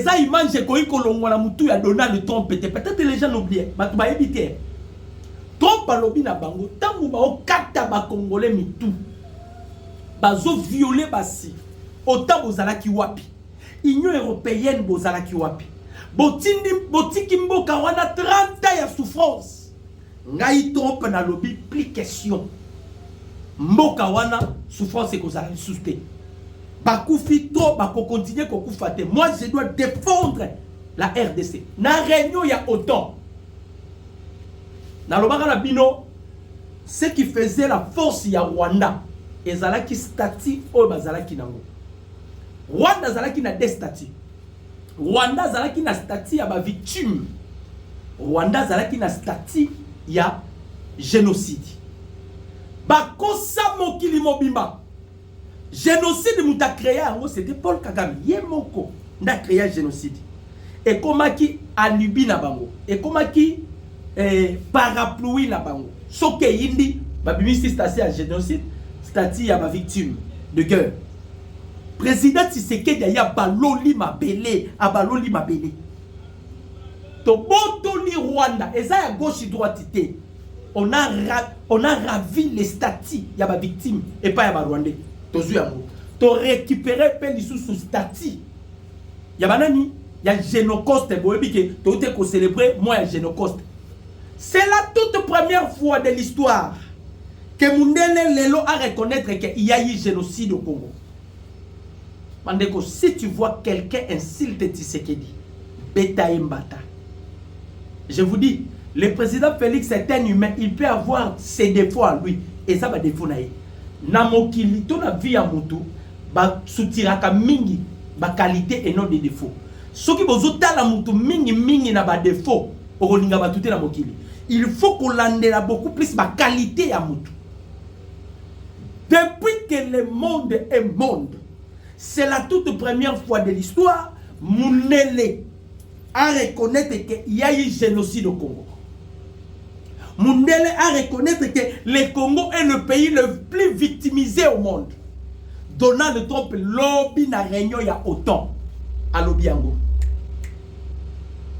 eza image ekoki kolongwa na mutu ya Donald Trump te peut-être les gens n'oublient bato bayebi te Trump alobi na bango ntango baokata bakongole mitu bazoviole basi ota bozalaki wapi union européenne bozalaki wapi botindi botiki mboka wana 30 ya souffrance Ngai top na lobi plus question. Mboka wana souffrance ekozala lisusu te. Bakufi to bako continuer kokufa te. Moi je dois défendre la RDC. Na réunion ya OTAN. Nalobaka na bino ce qui faisait la force ya Rwanda ezalaki statut oyo bazalaki nango. Rwanda azalaki na deux statuts. Rwanda azalaki na statut ya ba victime. Rwanda azalaki na statut ya genocide. Bakosa mokili mobimba. Genocide moto akrea yango c'était Paul Kagame ye moko nde akrea genocide. Ekomaki alibi na bango. Ekomaki eh, parapluie na bango. Soki eyindi babimisi statut ya genocide, statut ya ba victime de guerre. President Tshisekedi aye abaloli mabele, abaloli mabele. Tobotoli Rwanda, eza ya gauche droite te. On a, ra, on a ravi les statuts ya ba victimes epa ya ba Rwandais. Tozwi yango. To récupérer pe lisusu statut ya banani ya Genocoste. Boyebi ke toute ko célébrer mois ya Genocoste. C'est la toute première fois de l'histoire Que Mundele Lelo a reconnaître que il y a eu génocide au Congo. Mandeko, si tu vois quelqu'un insulte Tshisekedi, beta mbata. Je vous dis, le président Félix est un humain, il peut avoir ses défauts à lui. Et ça va défaut naï. Na mokili, to na vie à mutu, ba soutiraka mingi, ba qualité et non des défauts. Soki bozo tala mutu mingi mingi na ba défauts, okolinga bato te na mokili il faut kolandela beaucoup plus bakalite ya motu depuis que le monde est monde c'est la toute première fois de l'histoire mundele a reconnaître que il y a eu génocide au Congo mundele a reconnaître que le Congo est le pays le plus victimisé au monde Donald Trump lobi na réunion ya OTAN alobi yango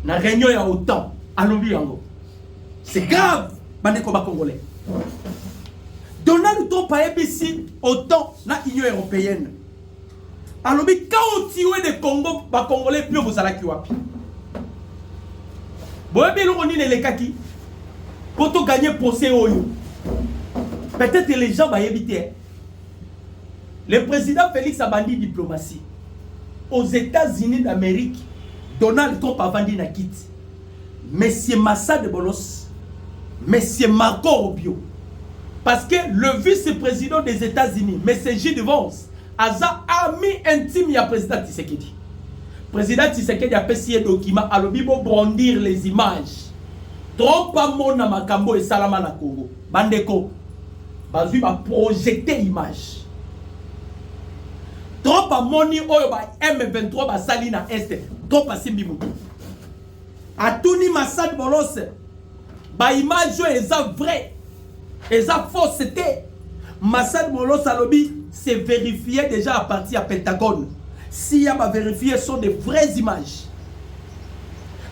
na réunion ya otan alobi yango c'est grave bandeko bacongolais donald trump ayebisi otan na union européenne alobi kaotiwe de congo bacongolais pio bozalaki wapi boyebi eloko nini elekaki mpo toganye procès oyo peut-être les gens bayebi te Le president Felix abandi diplomatie. Aux Etats-Unis d'Amerique, Donald Trump avandi na kiti. Monsieur Massa de Bolos, Monsieur Marco Rubio, parce que le vice-président des États-Unis, Monsieur J. Vance, aza ami intime ya président Tshisekedi. Président Tshisekedi apesi ye document alobi bo brandir les images. Trump amona makambo esalama na Congo. Bandeko bazwi ba projecter image trop amoni oyo ba M23 basali na est trop asimbi moto atuni Masad Bolose ba image oyo eza vrai eza fausse te Masad Bolose alobi c'est vérifié déjà à partir ya Pentagone si ya ba vérifier sont des vraies images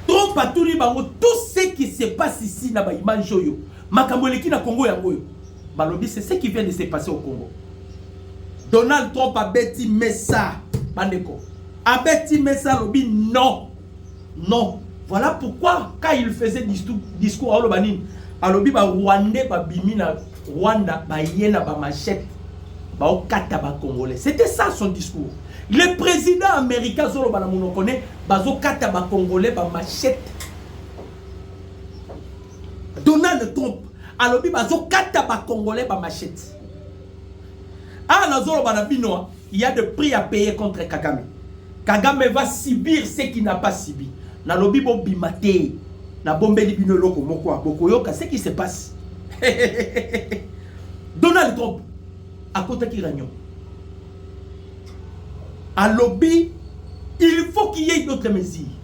trop atuni bango tout ce qui se passe ici na ba image oyo makambo eleki na Congo yango oyo balobi c'est ce qui vient de se passer au Congo Donald Trump abeti mesa bandeko abeti mesa alobi non non voilà pourquoi quand il faisait discours, discours aloba nini alobi ba rwandais babimi na rwanda baye na bamachete baokata bacongolais c'était ça son discours le président américain azoloba na monoko ne bazokata bacongolais bamachete Donald Trump alobi bazokata bakongolais bamachete awa ah, nazoloba na bino ah, il y a de prix à payer contre kagame kagame va subir ce qui n'a pas subi nalobi bobima te nabombeli bino eloko moko ah, bokoyoka ce qui se passe donald trump akotaki ragnon alobi il faut qu'il y ait d'autres mesures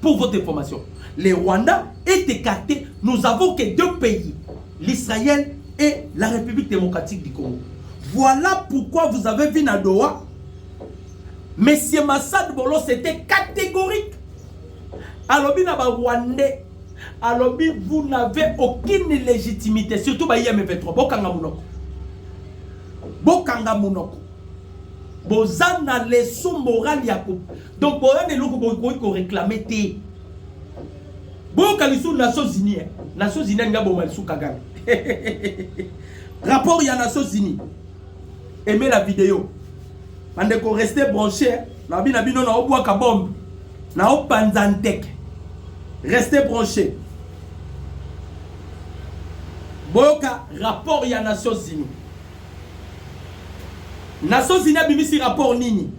Pour votre information, le Rwanda est écarté. Nous avons que deux pays, l'Israël et la République démocratique du Congo. Voilà pourquoi vous avez vu na Doha, Monsieur Massad Bolo, c'était catégorique. Alobi na ba Rwandais, alobi vous n'avez aucune légitimité, surtout ba IM23. Bokanga munoko. Bokanga munoko. Bozana leçon morale ya Donc boya na eloko bokoki ko reclamer te. Boyoka lisusu Nations Unies. Eh. Nations Unies alingi aboma lisusu Kagame. Rapport ya Nations Unies. Aimez la vidéo. Bandeko reste branché. Eh. Na bina bino na obwaka bombe. Na opanza nteke. Restez branché. Boyoka rapport ya Nations Unies. Nations Unies abimisi rapport nini?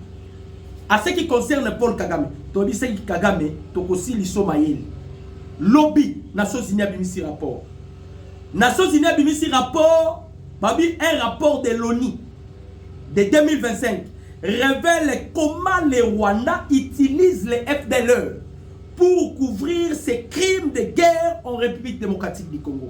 A ce qui concerne Paul Kagame, toyebi seki Kagame tokosiliso mayele. Lobi Nations Unies abimisi rapport. Nations Unies abimisi rapport, babi un rapport de l'ONU de 2025 révèle comment le Rwanda utilise les FDLR pour couvrir ses crimes de guerre en République démocratique du Congo.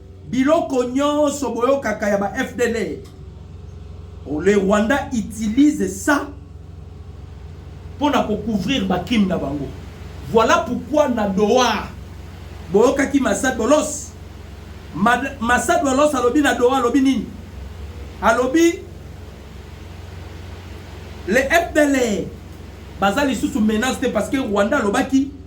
Biloko nyoso boyokaka ya ba FDLR, le Rwanda utilise ça pona ko couvrir ba crimes na bango. Voilà pourquoi na Doha boyokaki Massa Dolos. Massa Dolos alobi na Doha alobi nini? Alobi le FDLR baza lisusu menace te parce que Rwanda alobaki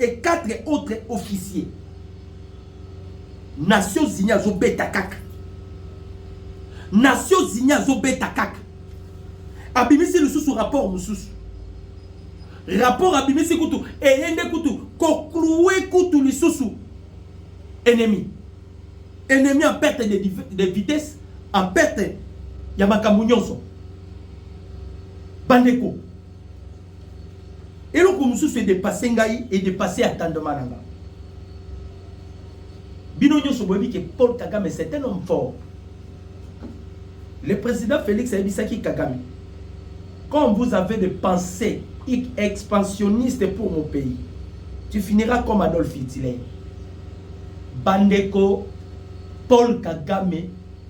et quatre autres officiers nations unis azobeta kaka nations unis azobeta kaka abimisi lisusu rapport mosusu rapport abimisi kutu eye nde kutu koklue kutu lisusu ennemi ennemi en perte de, de vitesse en perte ya makambo nyonso bandeko eloko mosusu edepase ngai edepase attendement na nga bino nyonso boyebi ke paul kagame c'est un homme fort le président félix ayebisaki kagame quand vous avez des pensées expansionnistes pour mon pays tu finiras comme adolphe hitler bandeko paul kagame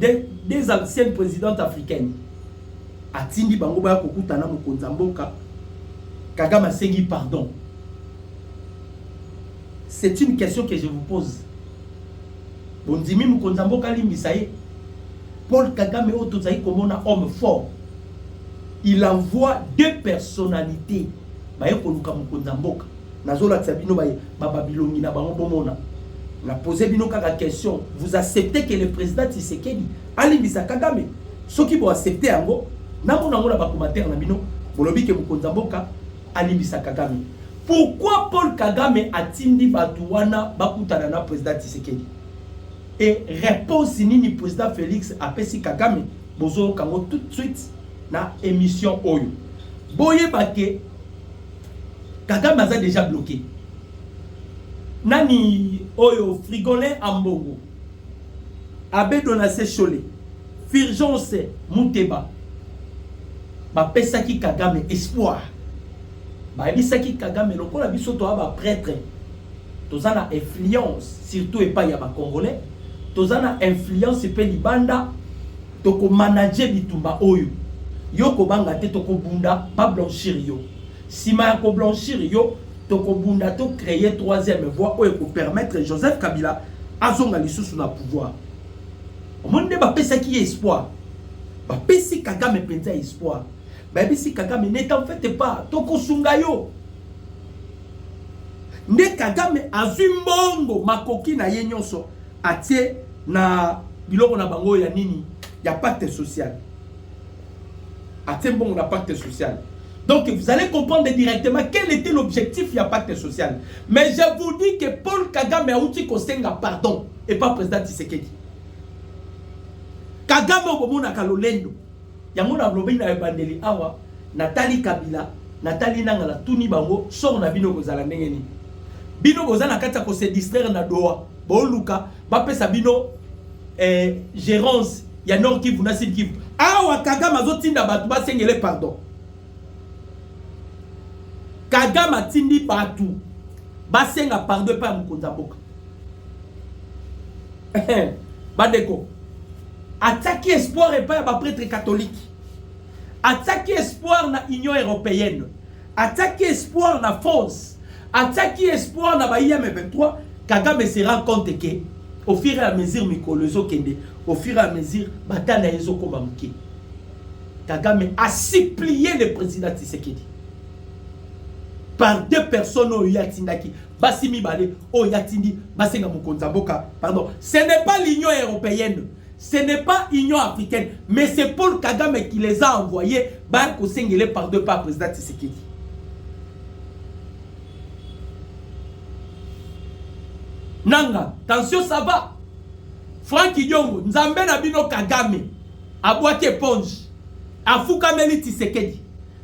des, des anciennes présidentes africaines atindi bango baya kokutana mokonzi ya mboka kagame asengi pardon c'est une question que je vous pose bondimi mokonzi ya mboka alimbisa ye paul kagame oyo tozali komona homme fort il envoie deux personnalités baye koluka mokonzi ya mboka nazolakisa bino babilongi na bango bomona na pose bino kaka question vous acceptez que le président tisekedi alimbisa kagame soki boaccepte yango namona yango na bacommentaire na bino bolobi ke mokonzi ya mboka alimbisa kagame pourquoi paul kagame atindi bato wana bakutana na président tisekedi e réponse nini président félix apesi kagame bozoyoka yango tout de suite na émission oyo boyeba ke Kagame aza deja bloqué. Nani oyo frigolin ambongo. Abe Donace Shole. Firgence Muteba. Bapesaki Kagame espoir. Bayebisaki Kagame lokola biso toa ba prêtre toza na influence surtout epai ya bacongolais toza na influence mpe libanda tokomanage bitumba oyo yo kobanga te tokobunda bablanchir yo nsima ya koblanchir yo tokobunda to créer troisième voie oyo ekopermettre joseph kabila azonga lisusu na pouvoir omoni nde bapesaki ye espoir bapesi kagame mpenza espoir bayebisi kagame n'etant fete pas tokosunga yo nde kagame azwi mbongo makoki na ye nyonso atie na biloko na bango ya nini ya pacte social atie mbongo na pacte social donc vous allez comprendre directement quel était l'objectif ya pacte social mais je vous dis que paul kagame auti kosenga pardon et pas président tisekedi kagame obomonaka lolendo Yango na lobi na ebandeli awa na tali kabila na tali nanga na tuni bango sort na bino kozala ndenge nini bino boza na kati ya ko se distraire na doa boluka bapesa bino eh, gerance ya nord kivu na sud kivu awa kagame azotinda bato basengele pardon kagame atindi bato basenga pardon epai ya mokonzi ya mboka eh, eh, bandeko atiaki espoir epai ya bapretre katolike atiaki espoir na union européenne atiaki espoir na france atiaki espoir na baye ya me 23 kagame se rend compte ke au fur et à mesure mikolo ezokende au fur et à mesure bata na ye ezokoma moke kagame asuplie le président tisekedi par deux personnes oyo ye atindaki basi mibale oyo ye atindi basenga mokonzi ya mboka pardon ce n'est pas l'union européenne ce n'est pas union africaine mais c'est paul kagame qui les a envoyés baya kosengele pardon epa président tshisekedi nanga tension ça va frank idiongo nzambe na bino kagame abwaki eponge afukameli tshisekedi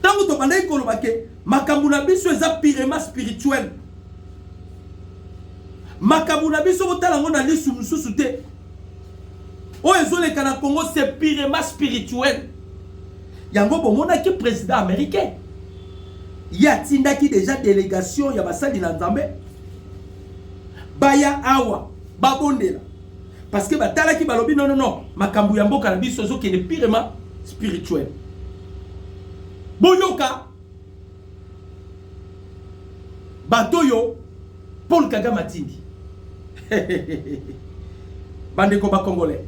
ntango tobandaki koloba ke makambo na biso eza pirema spirituel makambo na biso kotala yango na lisu mosusu te oyo ezoleka na congo se pirema spirituel yango bomonaki président américain ye atindaki deja délégation ya basali na nzambe baya awa babondela parce que batalaki balobi non non non makambo ya mboka na biso ezokende pirement spirituel boyoka bato oyo paul kagame atindi bandeko bacongolais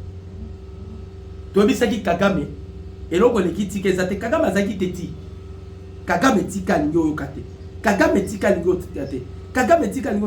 toyebisaki kagame eloko eleki tika eza te kagame azalaki te ti kagame tika alingi oyoka te kagame tika alingi otika te kagame tika alingi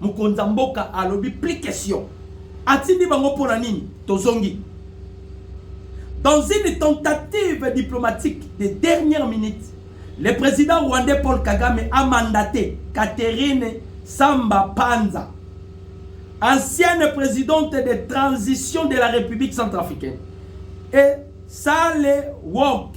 Mokonzi ya mboka alobi plus question. Atindi bango mpo na nini? Tozongi. Dans une tentative diplomatique de dernière minute, le président rwandais Paul Kagame a mandaté Catherine Samba Panza, ancienne présidente de transition de la République centrafricaine, et Sale Wok,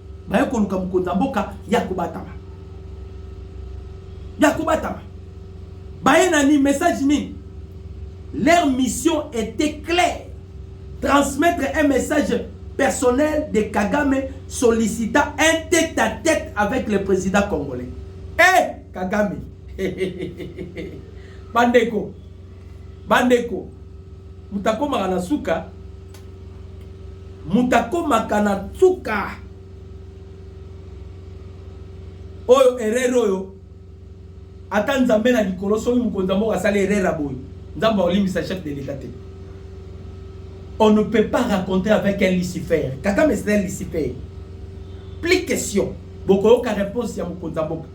baye koluka mokonzi ya mboka ya kobatama ya kobatama baye nani message nini leur mission était claire transmettre un message personnel de kagame sollicita un tête à tête avec le président congolais e hey, kagame bandeko bandeko moto akomaka na suka moto akomaka na nsuka oyo erreur oyo ata nzambe na likolo soki mokonzi ya mboka asali erreur ya boye nzambe aolimbisa chef de l'etat te on ne peut pas raconter avec un lucifer kagame c'est un lucifer plus question bokoyoka réponse ya mokonzi ya mboka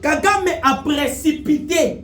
kagame a précipité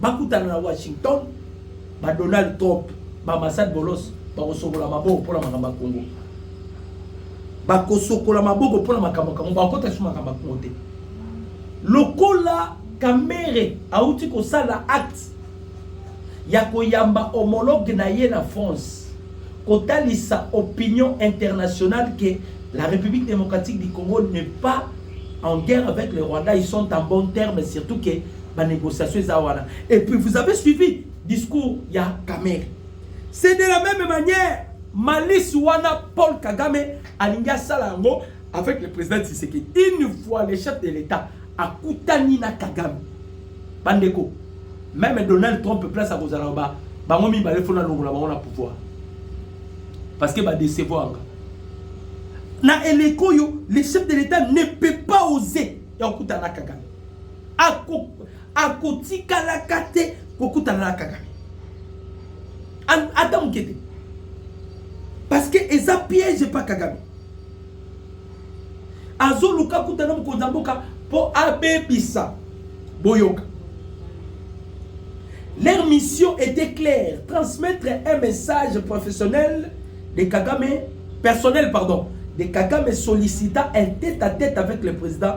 bakutana na Washington ba Donald Trump ba Masad Bolos bakosokola maboko mpo na makambo ya Kongo bakosokola maboko mpo na makambo ya Kongo bakota lisusu makambo ya Kongo te lokola Kamere auti kosala acte ya koyamba homologue na ye na France kotalisa opinion internationale que la République démocratique du Congo n'est pas en guerre avec le Rwanda ils sont en bon terme surtout que ba négociation eza wana et puis vous avez suivi discours ya Kamerhe c'est de la même manière malice wana Paul Kagame alingi asala yango avec le président Tshisekedi une fois le chef de l'État akutani na Kagame bandeko même Donald Trump place akozala ba bango mibale fona longola bango na pouvoir parce que ba décevoir nga na eleko oyo le chef de l'État ne peut pas oser ya kokutana na Kagame akotikalaka te kokutana na kagame ata moke te parce que eza piège pa kagame azoluka kutana mokonzi ya mboka mpo abebisa boyoka leur mission était claire transmettre un message professionnel de kagame personnel pardon de kagame sollicitant un tête à tête avec le président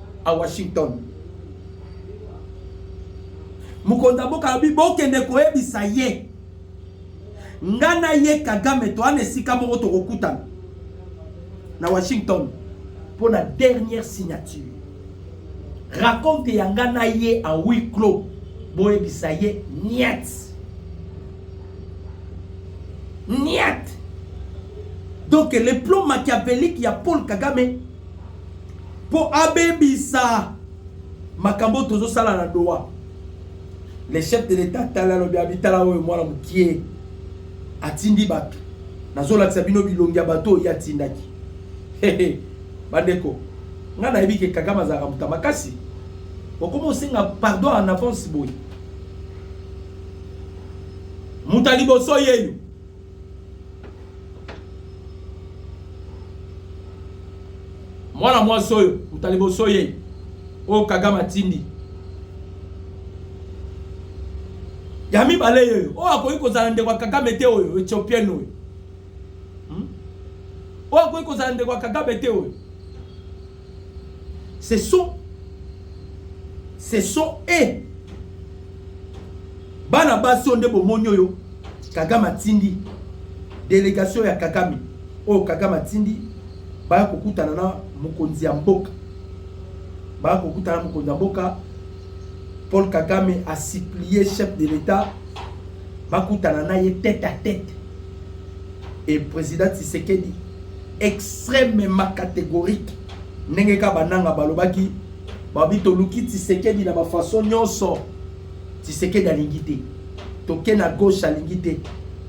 à Washington. Mukonda boka bi bokende koyebisa ye. Nga na ye Kagame to ana esika moko tokokutana na Washington pour la dernière signature. Raconte ya nga na ye en huis clos boyebisa ye niet. Niet. Donc le plan machiavélique ya Paul Kagame mpo abebisa makambo tozosala na doha le chef de l'etat atali alobi abitala oyo mwana mokie atindi bato nazolakisa bino bilongi ya bato oyo ye atindaki bandeko ngai nayebi ke kagame azalaka moto ya makasi okoma osenga pardon en avance boye moto ya liboso yeyo mwana mwasi oyo uta liboso ye oyo kagame atindi ya mibale oyo oyo akoki kozala ndeko ya kagame te oyo ethiopienne oyo hmm? oyo akoki kozala ndeko ya kagame te oyo Ce sont ce sont et bana basi oyo nde bomoni oyo kagame atindi delegation ya kagame oyo kagame atindi baya kokutana na mokonzi ya mboka baya kokutana na mokonzi ya mboka paul kagame asiplie chef de l'etat bakutana na ye tete a tete et président Tshisekedi extrêmement catégorique ndenge kaka bananga balobaki babi toluki Tshisekedi na bafaçon nyonso Tshisekedi alingi te toke na gauche alingi te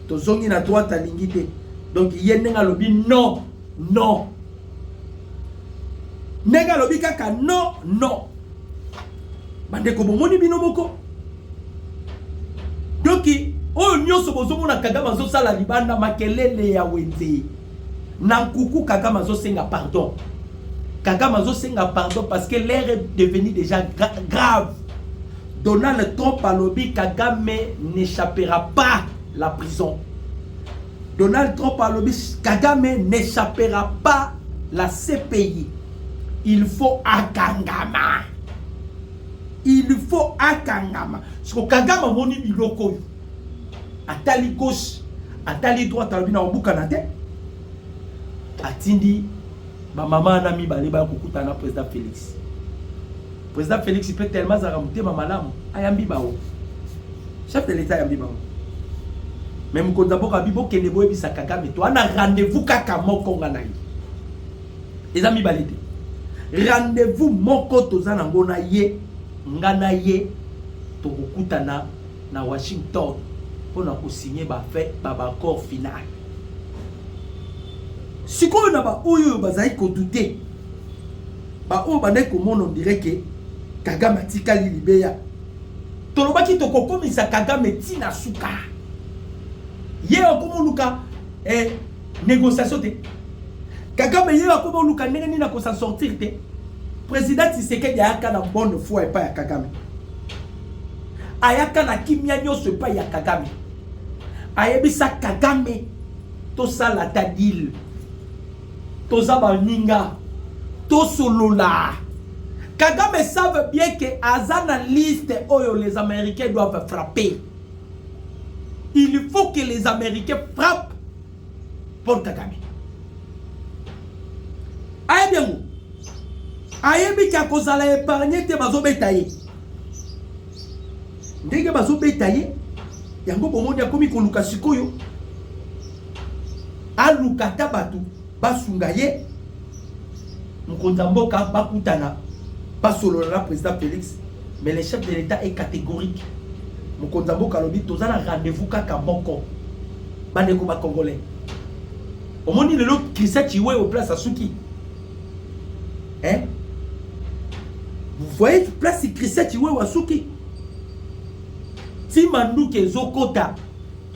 tozongi na droite alingi te donc ye ndenge alobi non non ndenge alobi kaka non non bandeko bomoni bino moko Donc oyo nyonso bozomona Kagame azosala libanda makelele ya wenze na nkuku Kagame azosenga pardon Kagame azosenga pardon parce que l'air est devenu déjà gra grave Donald Trump alobi Kagame n'échappera pas la prison Donald Trump alobi Kagame n'échappera pas la CPI il faut akangama il faut akangama siko kagame amoni biloko oyo atali gauche atali droite alobi na kobukana te atindi bamama wana mibale baya kokutana na président félix président félix mpe tellement azalaka motema malamu ayambi bango chef de l'état ayambi bango me mokonzi ya boka bi bokende boyebisa kagame to ana rendez-vous kaka moko nga na ye eza mibale te rendez-vous moko toza na ngo na ye nga na ye tokokutana na washington mpo na kosigne baaccord final sikoyo na baoyo oyo bazali kodute baoyo bandaki komona ondire ke kagame atikali libeya tolobaki tokokomisa kagame ntina suka ye okomoluka eh, Négociation te. Kagame ye akomi oluka ndenge nini ako s'en sortir te. Président Tshisekedi ayaka na bonne foi epai ya Kagame. Ayaka na kimia nyonso epai ya Kagame. Ayebisa Kagame tosala ta deal. Toza baninga. Tosolola. Kagame savent bien que aza na liste oyo les américains doivent frapper. Il faut que les Américains frappent Paul Kagame. ayebi yango ayebi ke akozala épargne te bazobeta ye ndenge bazobeta ye yango bomoni akomi koluka sikoyo aluka ata bato basunga ye mokonzi ya mboka bakutana basolola na président félix Mais le chef de l'Etat est catégorique. Mokonzi ya mboka alobi toza na rendez-vous kaka moko. Bandeko ba Congolais. Omoni lelo Christian Chiwe au place asuki. Hein? Vous voyez place Christian Chiwe asuki. Ti manduke ezokota.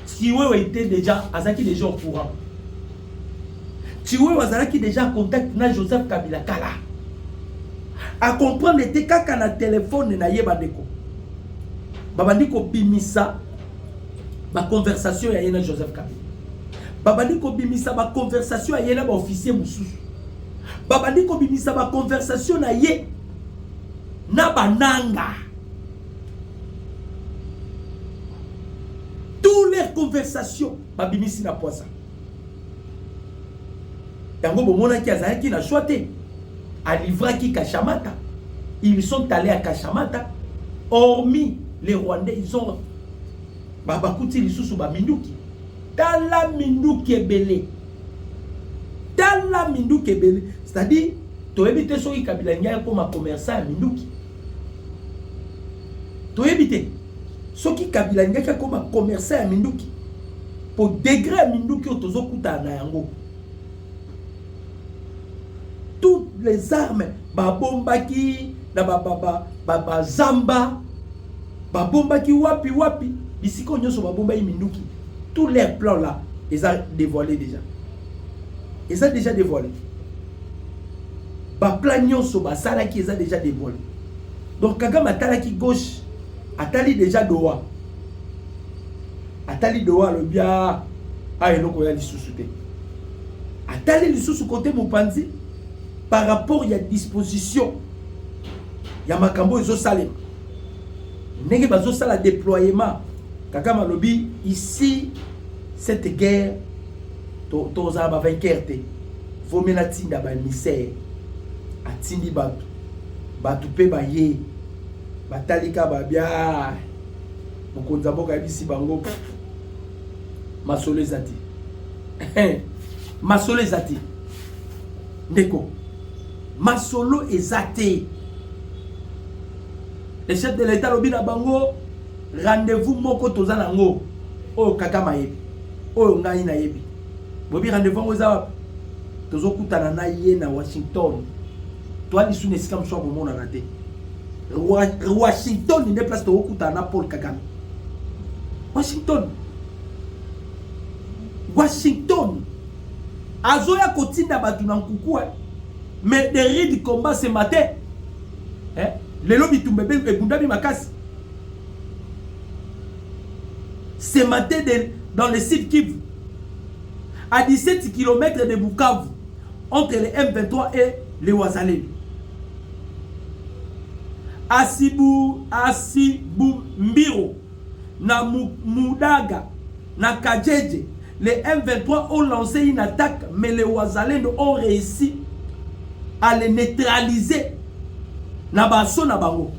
Chiwe était déjà azaki déjà au courant. Tshiwewe azalaki deja contact na Joseph Kabila kala. A comprendre ete kaka na telefone na ye bandeko babandi kobimisa baconversation ya ye na Joseph Kabila, babandi kobimisa baconversation ya ye na baofficier mosusu, babandi kobimisa baconversation na ye na bananga. Tous les conversations babimisi na pwasa. yango bomonaki azalaki na choix te alivraki kashamata ils sont allés à kashamata hormis les rwandais ils ont babakuti lisusu baminduki tala minduki ebele tala minduki ebele c'est-à-dire toyebi te soki kabila ngai akoma commerçant ya minduki toyebi te soki kabila ndeki akoma commerçant ya minduki po degre ya minduki oyo tozokutana na yango toutes les armes babombaki na bazamba babombaki wapi wapi bisika oyo nyonso babombaki minduki tout leur plan là eza dévoilé déjà eza déjà dévoilé baplan nyonso basalaki eza déjà dévoilé donc kagame atalaki gauche atali déjà doa atali doa alobi a ah, ah, eloko ya lisusu te atali lisusu kote mopanzi par rapport ya disposition ya makambo oyo ezosalema ndenge bazosala déploiement kakama alobi ici cette guerre tozala bavainqueur te vomela tinda baemissaire atindi bato bato mpe baye batalika babia Mokonzi ya mboka ayebisi bango masolo eza te. Eh, masolo eza te. Ndeko, masolo eza te. Le chef de l'État alobi na bango rendez-vous moko toza na yango oyo kaka mayebi oyo ngai nayebi boyebi rendez-vous yango eza wapi tozokutana na ye na washington toa lisu na esika mosusu ya komonana te washington nde place tokokutana na paul kagame washington washington azoya kotinda bato na nkuku eh? mais de ride combat ce matin eh? lelo bitumba ebundami makasi ce matin de, dans le sud kivu à 17 km de bukavu entre le M23 et les Wazalendo. Asibu, Asibu Mbiro, na Moudaga, na Kajeje, les M23 ont lancé une attaque, mais les Wazalendo ont réussi à les neutraliser. Na baso na bango.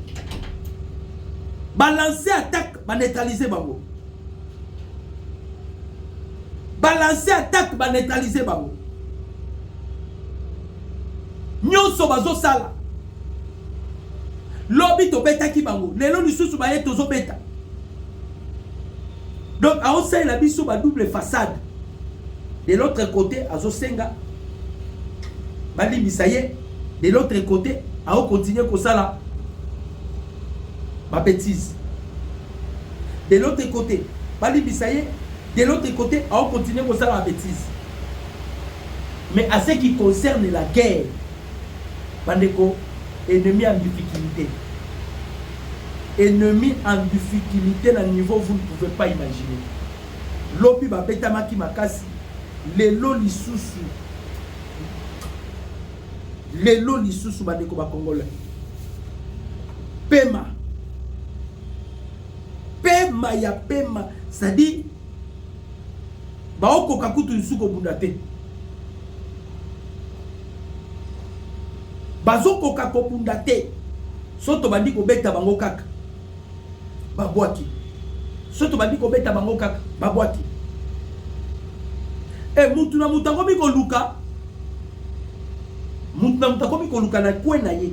Balancer attaque, ba neutraliser bango. balancer attaque ba neutraliser bango nyonso bazosala lobi tobetaki bango lelo lisusu baye tozobeta donc aosalela biso ba double façade de l'autre côté azosenga balimbisa ye de l'autre côté aokontinue kosala babetise de l'autre cote balimbisa ye de l'autre cote ao continuer kosala ba betises mais à ce qui concerne la guerre bandeko ennemi en difficulté ennemi en difficulté na niveau vous ne pouvez pas imaginer lobi babetamaki makasi lelo lisusu lelo lisusu bandeko bakongolais pema pema ya pema c'est-à-dire baokoka kutu lisusu kobunda te bazokoka kobunda te so tobandi kobeta bango kaka babwaki so tobandi kobeta bango kaka babwaki e eh, mutu na moto akomi koluka moto na moto akomi koluka na kwe na ye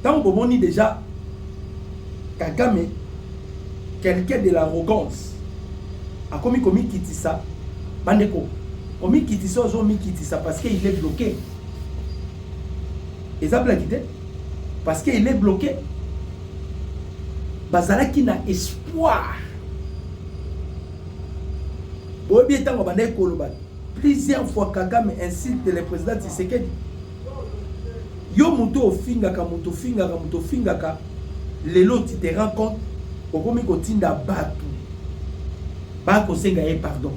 ntango bomoni deja kagame quelqu'un de l'arrogance akomi komikitisa bandeko komikitisa ozo omikitisa parce que il est bloqué eza blaki te parce que il est bloqué bazalaki na espoir boyebi ntango bandaki koloba plusieurs fois kagame insulte le président tshisekedi Yo mutu ofingaka mutu ofingaka mutu ofingaka lelo tu te rends compte okomi kotinda batu ba kosenga ye pardon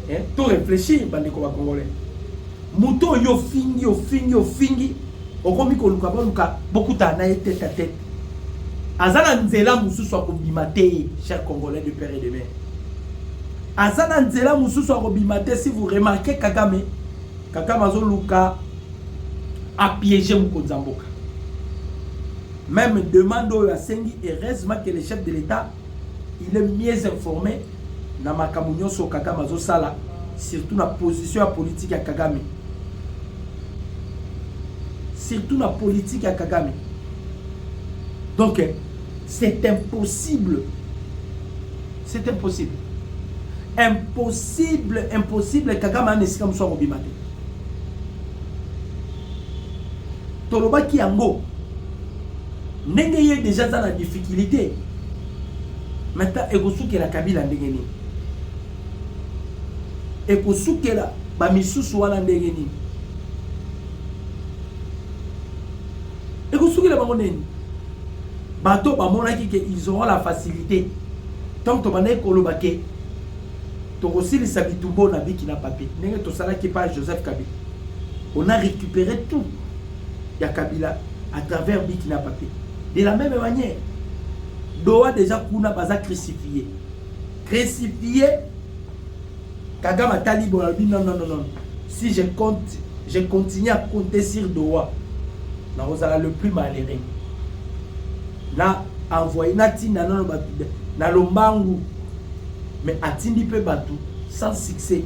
eh, to réfléchir bandeko ba congolais mutu oyo ofingi ofingi ofingi okomi koluka boluka bokutana na ye tete a tete aza na nzela mosusu akobima te cher congolais de père et de mère aza na nzela mosusu akobima te si vous remarquez kagame Kagame azoluka a piéger mokonzi ya mboka. Même demande oyo asengi, heureusement que le chef de l'État, il est mieux informé na makambo nyonso Kagame azosala, surtout na position ya politique ya Kagame. Surtout na politique ya Kagame. Donc, C'est impossible. C'est impossible. Impossible, impossible. Kagame a esika mosusu akobima te. tolobaki yango ndenge ye deja aza na difficulté mata ekosukela kabila ndenge nini ekosukela bamisusu wana ndenge nini ekosukela bango nini bato bamonaki ke ils auront la facilité ntango tobandaki koloba ke tokosilisa bitumba oyo na biki na papier ndenge tosalaki epai ya joseph kabila on a récupéré tout ya kabila à travers biki na papier de la même manière doa déjà kuna baza crucifie crucifie Kagame atali boye alobi non non non si je compte je continue à compter sur Doha nakozala le plus malheureux na envoye natinda nano bato na lombangu mais atindi mpe bato sans succès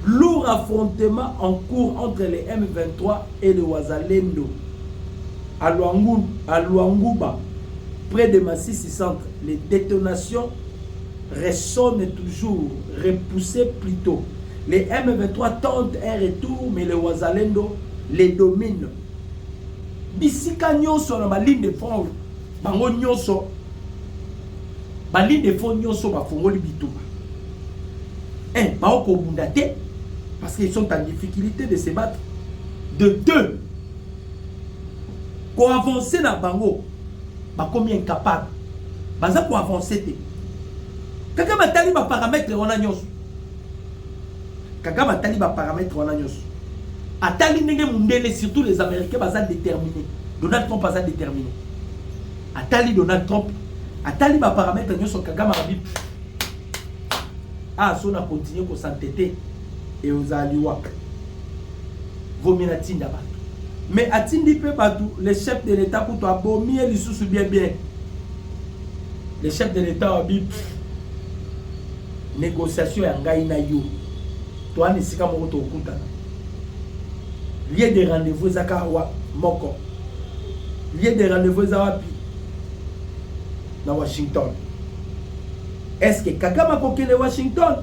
lourd affrontement en cours entre les M23 et le Wazalendo à, Luangu, à Luanguba près de Massissi centre les détonations ressonne toujours repousse plutot les M23 tente un retour mais les Wazalendo les domine bisika nyonso na baligne de front bango nyonso baligne de front nyonso bafongoli bituba un eh, baokobunda te parce qu'ils sont en difficulté de se battre de deux koavanse na bango bakomi incapable baza koavanse te Kagame atali ba parametre wana nyonso. Kagame atali ba parametre wana nyonso. Atali ndenge mundele surtout les américains baza déterminés. Donald Trump aza déterminé. Atali Donald Trump, atali ba parametre nyonso Kagame abi. Ah, so na continuer ko s'entêter et aux aliwa. Vomina tinda ba. Mais atindi pe batu les chefs de l'état kutu abomi lisusu bien bien. Le chef de l'État wa bip négociation ya ngai na yo toana esika moko tokutana lieu de rendez-vous eza kaka wa moko lieu de rendez-vous eza wapi na washington est ce que kagame akokende washington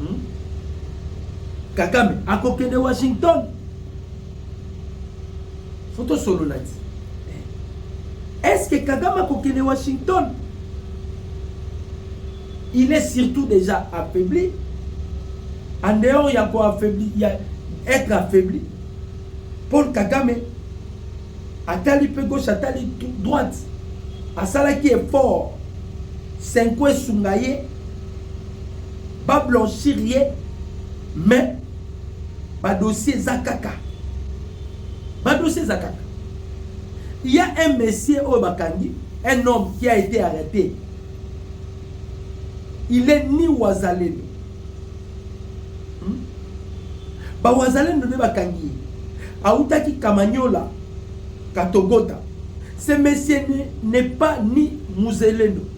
hmm? kagame akokende washington faut tosolola ti est ce que kagame akokende washington il est surtout déjà affaibli en dehors ya ko affaibli ya être affaibli paul kagame atali mpe gauche atali droite asalaki effort senko esunga ye bablanchir ye mais ba dossier eza kaka ba dossier eza kaka il y a un monsieur oyo bakangi un homme qui a été arrêté il est ni wazalendo hmm? ba wazalendo nde bakangi ye autaki kamanyola katogota ce monsieur n'est pas ni muzelendo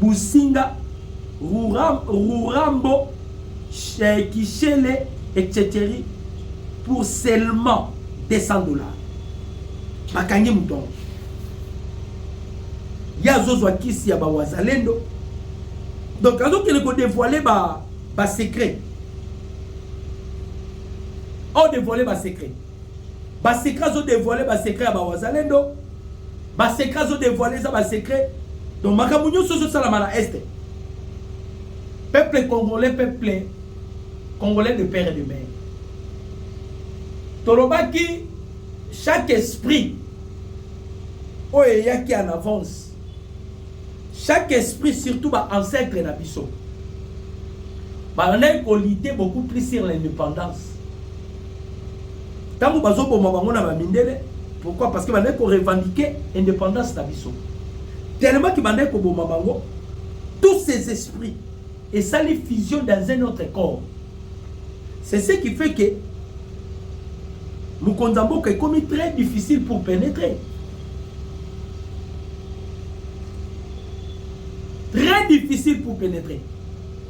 Businga, Rurambo, Kishele, etc. Pour seulement 200 dollars. Bakangi moto yango. Ye azozwa kisi ya bawazalendo. Donc azokende kodevoile ba, ba secret. Odevoile ba secret. ba secret azo devoile ba secret ya ba wazalendo ba secret azo devoile eza ba secret donc makambo nyonso ezosalama na este peuple congolais peuple congolais de père et de mère tolobaki chaque esprit oyo eyaki en avance chaque esprit surtout ba ancêtre na biso balandaki kolite beaucoup plus sur l'indépendance Tango bazoboma bango na bamindele, pourquoi? Parce que bandaki ko revendiquer independance na biso. Tellement ki bandaki koboma bango, tous ces esprits esali fusion dans un autre corps. C'est ce qui fait que mokonzi ya mboka ekomi très difficile pour pénétrer. Très difficile pour pénétrer.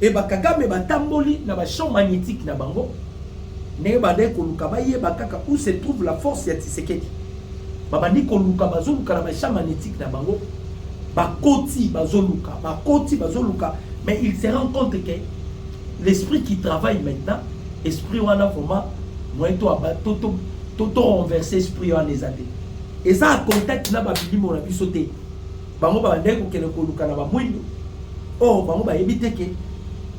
Et ba Kagame ba tamboli na ba champs magnetique na bango ndenge bandaki koluka bayeba kaka où se trouve la force ya Tshisekedi. Babandi koluka bazoluka na ba champs magnetique na bango bakoti bazoluka bakoti bazoluka mais il se rend compte que l'esprit qui travaille maintenant esprit wana vraiment moyen to aba to to to, to renverser esprit wana eza te eza contact na babilimo na biso te Bango babandaki kokende koluka na ba mwindo or bango bayebi te ke